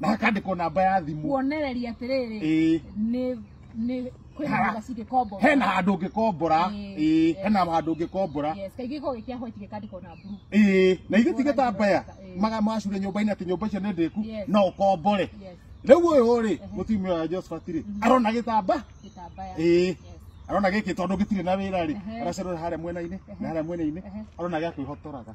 na hakandĩkwo namba ya thimũ kuonereria atĩrĩrĩ Ĩĩ. nĩ nĩ kwĩna Ha. nyũmba cingĩkomborwo hena handũ ũngĩkombora Ĩĩ. Ĩĩ, hena handũ ũngĩkombora yes kaingĩ gĩkoragwo gĩkĩa white gĩkandĩkwo na blue Ĩĩ, na ithuĩ tigĩtambaya Ĩĩ. maga macure nyũmba-inĩ atĩ nyũmba icio nĩ ndĩku Yes. no ũkombore yes rĩu ũyũ rĩ mũtumia ũyũ wa Josephat rĩ arona gĩtamba gĩtambaya Ĩĩ. yes arona gĩkĩ tondũ gĩtirĩ na wĩra rĩ Ehe. aracerora harĩa mwena-inĩ na harĩa mwena-inĩ Ehe. arona gĩa kwĩhotoraga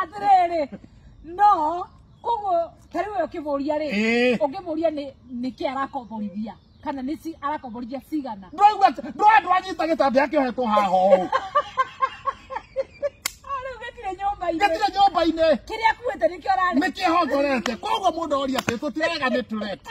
atiriri no koguo kariu yo kivuria ri Eh. ungivuria ni niki arakomborithia kana ni ci arakomborithia cigana ndwaigua ndwa ndwanyita gĩtambĩ akĩohetwo haha ũũ riu gitire nyumba-ini gĩtirĩ nyũmba-inĩ kiria akuite nikio arari nĩ kĩhongorete koguo mũndũ oria atĩ tũtirega nĩ tũrete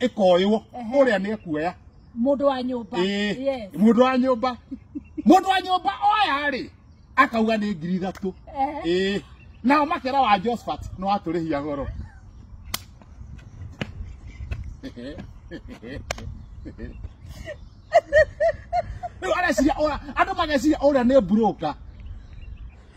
ikoywo Ehe. uria ni ekuoya Mũndũ wa nyũmba. Yes. ĩĩ mundu wa nyumba mundu wa nyumba oya ri akauga ni ngiri ithatu Ehe. ĩĩ nao makera wa Josephat no aturihia goro rä u areciria andu mageciria å rä a nä broka